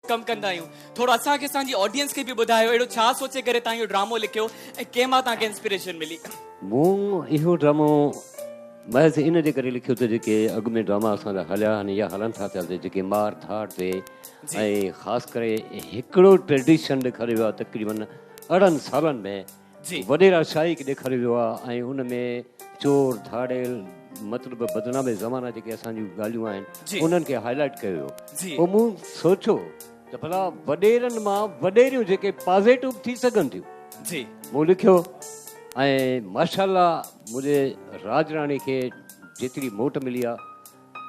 ڪم ڪندا آهيون ٿورو اسان کي اسان جي آڊينس کي به ٻڌايو اهڙو ڇا سوچي ڪري تان اهو ڊرامو لکيو ۽ ڪنهن مان تان کي انسپيريشن ملي. مون اهو ڊرامو محض ان جي ڪري لکيو ته جيڪي اڳ ۾ ڊراما اسان جا هليا آهن يا هلن ٿا پيا ته جيڪي مار ڌاڙ تي ۽ خاص ڪري هڪڙو ٽريڊيشن ڏيکاريو ويو آهي تقريبن ارڙهن سالن ۾ وڏيرا شاهي کي ڏيکاريو ويو آهي ۽ ان ۾ چور، ڌاڙيل، مطلب بدنام زمانه جيڪي اسان جون ڳالهيون آهن انهن کي هاء لائيٽ ڪيو ويو پوء مون سوچيو ته ڀلا وڏيرن مان وڏيريون جيڪي پازيٽو به ٿي سگهن ٿيون مون لکيو ۽ ماشاءالله منهنجي راڄ راڻي کي جيتري موٽ ملي آهي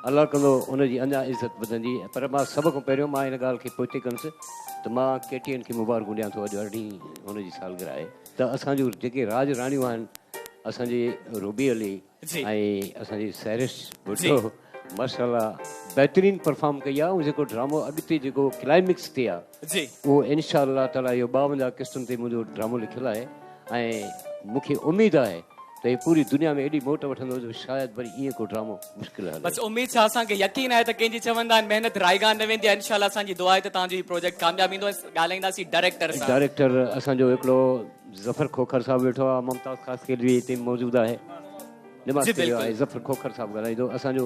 الله ڪندو ان جي اڃا عزت وڌندي پر مان سڀ کان پهريون مان ان ڳالهه کي پوئتي ڪندس ته مان ڪي ٽي اين کي مبارڪون ڏيان ٿو اڄ ارڙهين هن جي سالگرهه آهي ته اسان جون جيڪي راڄ راڻيون آهن اسان جي روبي علي جي ۽ اسان جي سهرش جي ڀٽو ماشاءالله بهترين پرفارم ڪئي آهي ۽ جيڪو ڊرامو اڳتي جيڪو ڪلائمڪس تي آهي جي. اهو انشاء الله تعالٰي اهو ٻاونجاهه قسطن تي منهنجو ڊرامو لکيل آهي ۽ مون کي اميد آهي ته هي پوري دنيا ۾ ايڏي موٽ وٺندو جو شايد وري ايئن ڪو ڊرامو مشڪل هلي. بس اميد ڇا اسان کي يقين آهي ته ڪنهن جي چوندا آهن محنت رائيگان نه ويندي آهي انشاء الله اسان جي دعا آهي ته توهان جو هي پروجيڪٽ ڪامياب ويندو ۽ ڳالهائينداسين ڊائريڪٽر سان. ڊائريڪٽر اسان جو هڪڙو ظفر کوکر صاحب ويٺو آهي ممتاز خاصخيلوي هتي موجود آهي نماز پڙهيو آهي ظفر کوکر صاحب ڳالهائيندو اسان جو.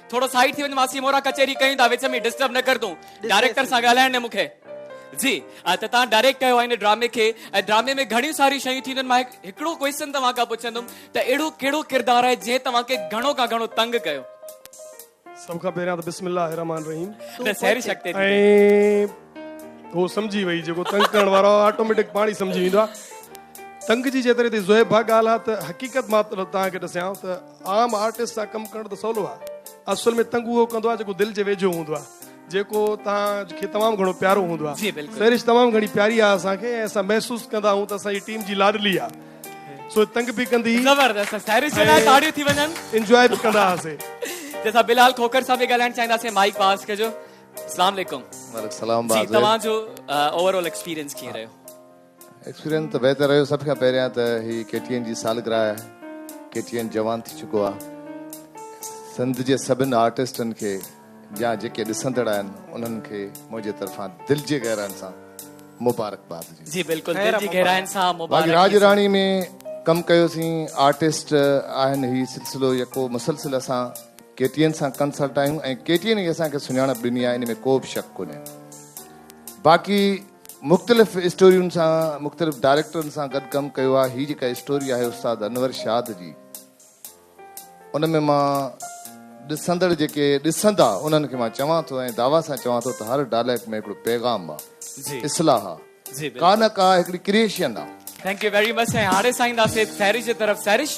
ٿورو سائيڊ ٿي وڃ ماسي مورا ڪچهري ڪيون ٿا وچ ۾ ڊسٽرب نه ڪر تون ڊائريڪٽر سان ڳالهائڻ ڏي مون کي جي ته توهان ڊائريڪٽ ڪيو آهي هن ڊرامي کي ۽ ڊرامي ۾ گهڻيون ساريون شيون ٿينديون مان هڪڙو ڪويشچن توهان کان پڇندم ته اهڙو ڪهڙو ڪردار آهي جنهن توهان کي گهڻو کان گهڻو تنگ ڪيو سڀ کان پهريان ته بسم الله الرحمن الرحيم نه سهري شڪتي ۽ هو سمجهي وئي جيڪو تنگ ڪرڻ وارو آٽوميٽڪ پاڻي سمجهي ويندو آهي تنگ جي جيتري تي زويب ڀا ڳالهه ته حقيقت مان توهان کي ڏسيان ته عام آرٽسٽ سان ڪم ڪرڻ ته سولو آ اصل ۾ تنگ اهو ڪندو آ جيڪو دل جي ويجهو هوندو آ جيڪو توهان کي تمام گهڻو پيارو هوندو آ سهرش تمام گهڻي پياري آ اسان کي اسان محسوس ڪندا آهيون ته اسان جي ٽيم جي لاڏلي آ سو تنگ به ڪندي زبردست سهرش جي لاء تاڙيون ٿي وڃن انجوائي به ڪندا هاسي جي سا بلال کوکر سان به ڳالهائڻ چاهيندا سي مائيڪ پاس ڪجو السلام عليڪم وعليڪم السلام جي توهان جو اوور آل ايڪسپيرينس ڪيئن رهيو ايڪسپيرينس ته بهتر رهيو سڀ کان پهريان ته هي ڪي ٽي اين جي سالگرهه آهي ڪي ٽي اين جوان ٿي چڪو آهي سنڌ جي سڀن آرٽسٽن کي يا جيڪي ڏسندڙ آهن انهن کي منهنجي طرفان دل جي گهرائن سان مبارڪباد جي جي بلڪل دل جي گهرائن سان مبارڪ راج راڻي ۾ ڪم ڪيوسين آرٽسٽ آهن هي سلسلو يڪو مسلسل اسان ڪي ٽي اين سان ڪنسلٽ آهيون ۽ ڪي ٽي اين هي اسان کي سڃاڻپ ڏني آهي ان ۾ ڪو به شڪ ڪونهي باقي مختلف اسٽورين سان مختلف ڊائريڪٽرن سان گڏ ڪم ڪيو آهي هي جيڪا اسٽوري آهي استاد انور شاد جي ان ۾ مان ڏسندڙ جيڪي ڏسندا انهن کي مان چوان ٿو ۽ دعويٰ سان چوان ٿو ته هر ڊائلاگ ۾ هڪڙو پيغام آ اصلاح آ ڪا نه ڪا هڪڙي ڪريشن آ. ٿينڪ يو ويري مچ ۽ هاڻي سائين داسي پهري جي طرف سهرش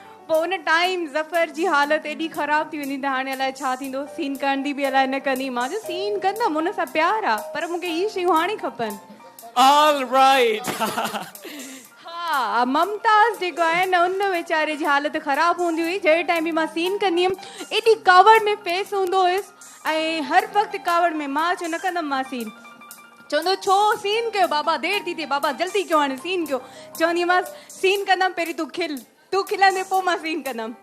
پوء ان ٽائيم ظفر جي حالت ايڏي خراب ٿي ويندي ته هاڻي الاء ڇا ٿيندو، سين ڪرندي به الاء نه ڪندي، مان چيو سين ڪندم ان سان پيار آ پر مون کي اهي شيون هاڻي کپن. آل رائيٽ ها. ها ممتاز جيڪو آهي نه ان ويچاري جي حالت خراب هوندي هئي جهڙي ٽائيم به مان سين ڪندي هيم ايڏي ڪاوڙ ۾ فيس هوندو هيس ۽ هر وقت ڪاوڙ ۾ مان چيو نه ڪندم مان سين. چوندو ڇو سين ڪيو بابا دير ٿي ٿئي بابا جلدي ڪيو هاڻي سين ڪيو چونديمانس سين ڪندم پهرين تون کل تون کلندين پوء مان سين ڪندم.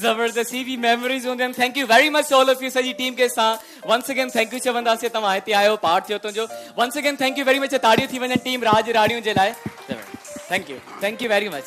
زبردست هي به ميموريز هونديون آهن thank you very much to all of you سڄي ٽيم کي اسان ونس اگين ٿينڪ يو چونداسين توهان هتي آيو پارٽ ٿيو تنهنجو once again thank you very much تاڙيون ٿي وڃن ٽيم راڄ راڻيون جي لاء thank you thank you very much.